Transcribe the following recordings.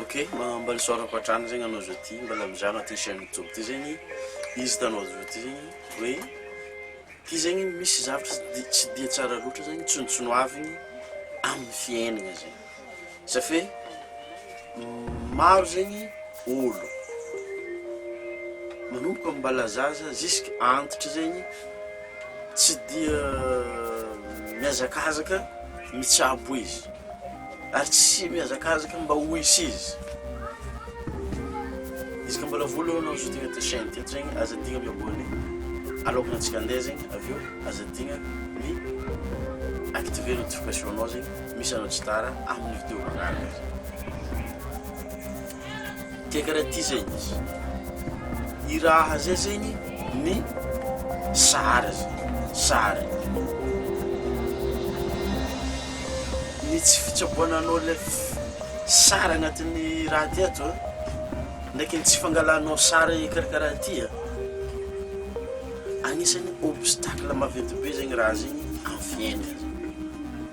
Ok mambal soir ampatrany zegny anao zao ty mbala mizano aty chaine youtube ty zegny izy hitanao zao ty zegny hoe ty zegny misy zavatra tsy dia tsara loatra zegny tsontsonoavigny amin'ny fiaignana zegny sa fe maro zegny olo manomboka mbala zaza ziska antitra zegny tsy dia miazakazaka mitsabo izy. Ary tsy mihazakazaka mba ho hisy izy. Izy ka mbola vola eo anao zao tegna te chaîne teto zegny aza adigna mi abonné aloakan'ny antsika andeha zegny avy eo aza adigna mi activer notification-nao zegny misy anao tsy tara amin'ny vidéo manaraka. Dia karaha ty zegny izy, i raha zay zegny ny sary zay, sary. Ny tsy fitsaboana anao le sary agnatin'ny raha ty ato ndraiky ny tsy fangalanao sary karakaraha ty an, agnisan'ny obstacle maventy be zegny raha zegny amin'ny fiaignana.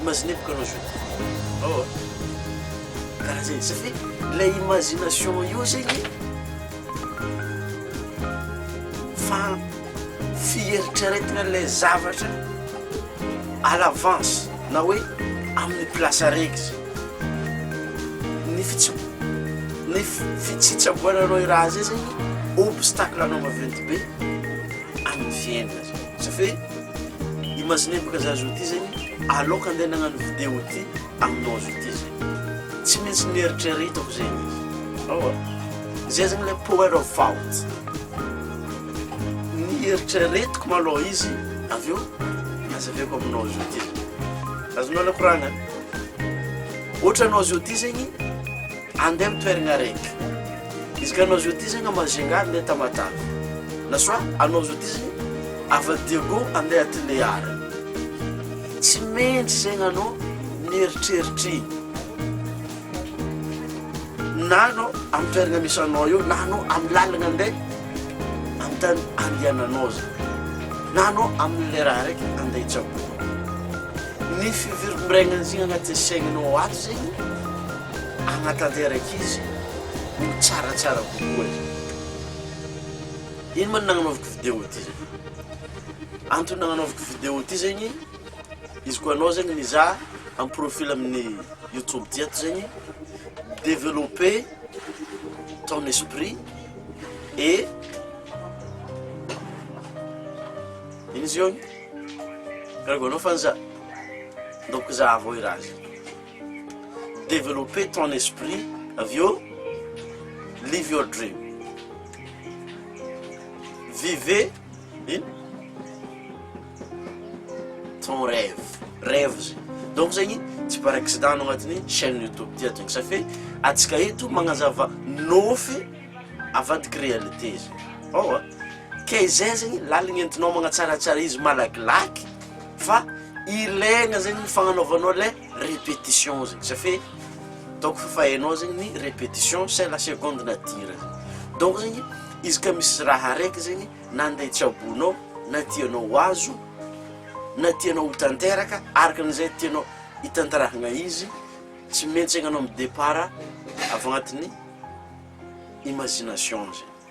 Imaginez bokanao zao dia oh karaha zay satria ilay imagination io zegny fa fieritreretana ilay zavatra à l'avance na hoe amin'ny place araiky zay ny fitsi- ny fitsitsaboananao i raha zay zegny obstacle anao maventy be amin'ny fiainana zany. Sa ve imaginembka za zao ty zegny aloka andeha nagnano video ty aminao zao ty zegny tsy maintsy nieritreretako zegny izy aowa zay zegny le power of thought nieritreretiko malôha izy avy eo nazavaiko aminao zao ty azonao aloha koragna ôhatra anao zao ty zegny Andeha am toeragna araiky. Izy ka anao zao ty zegny ama zengah andeha Tamatave. Na soit anao zao ty zegny avy a Diego andeha Tulear. Tsy maintsy zegny anao mieritreritra igny. Na anao am toeragna misy anao eo na anao am lalagna andeha am tany andehananao zany. Na anao am le raha araiky andeha hitsaboana. Ny fivirimbiregnan'izigny agnaty saignanao ato zegny. Hanatanteraka izy ho tsaratsara kokoa e! Ino ma no nagnanaovako video ty zay? Antony nagnanaovako video ty zegny, izy koa anao zegny mizaha en profil amin'ny youtube ty ato zegny, developper ton esprit et ino izy eo? Gargoinao fa za, ndaoko zahavo i raha zay. Développer ton esprit avy eo Live your dream Vivez ino? ton rêve Rêve zay Donc zegny tsy par accident anao agnatin'ny chaîne YouTube ty ato Sa fe antsika eto magnazava nofy avadiky réalité zay Aowa Kay zay zegny laligny entinao magnatsaratsara izy malakilaky Fa ilaigna zegny ny fagnanaovanao le repetition zegny satria ataoko fa fa hainao zegny ny repetition c'est la seconde nature donc zegny izy ka misy raha araiky zegny nande tsaboinao na tianao ho azo na tianao ho tanteraka araka an'izay tianao hitantarahagna izy tsy maintsy egnanao mi-départ avy agnatin'ny imagination zegny.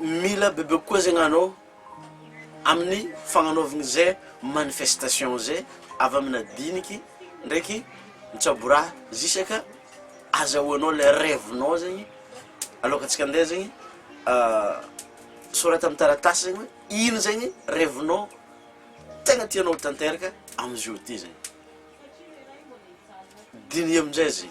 Mila bebe kokoa zegny anao amin'ny fagnanaovagna zay manifestation zay avy amina diniky ndraiky mitsaboraha zisaka azahoanao le rêve-nao zegny aloka antsika andeha zegny sorata amy taratasy zegny hoe ino zegny rêve-nao tegna tianao ho tanteraka amizao ty zegny. Diniho amin'izay izay.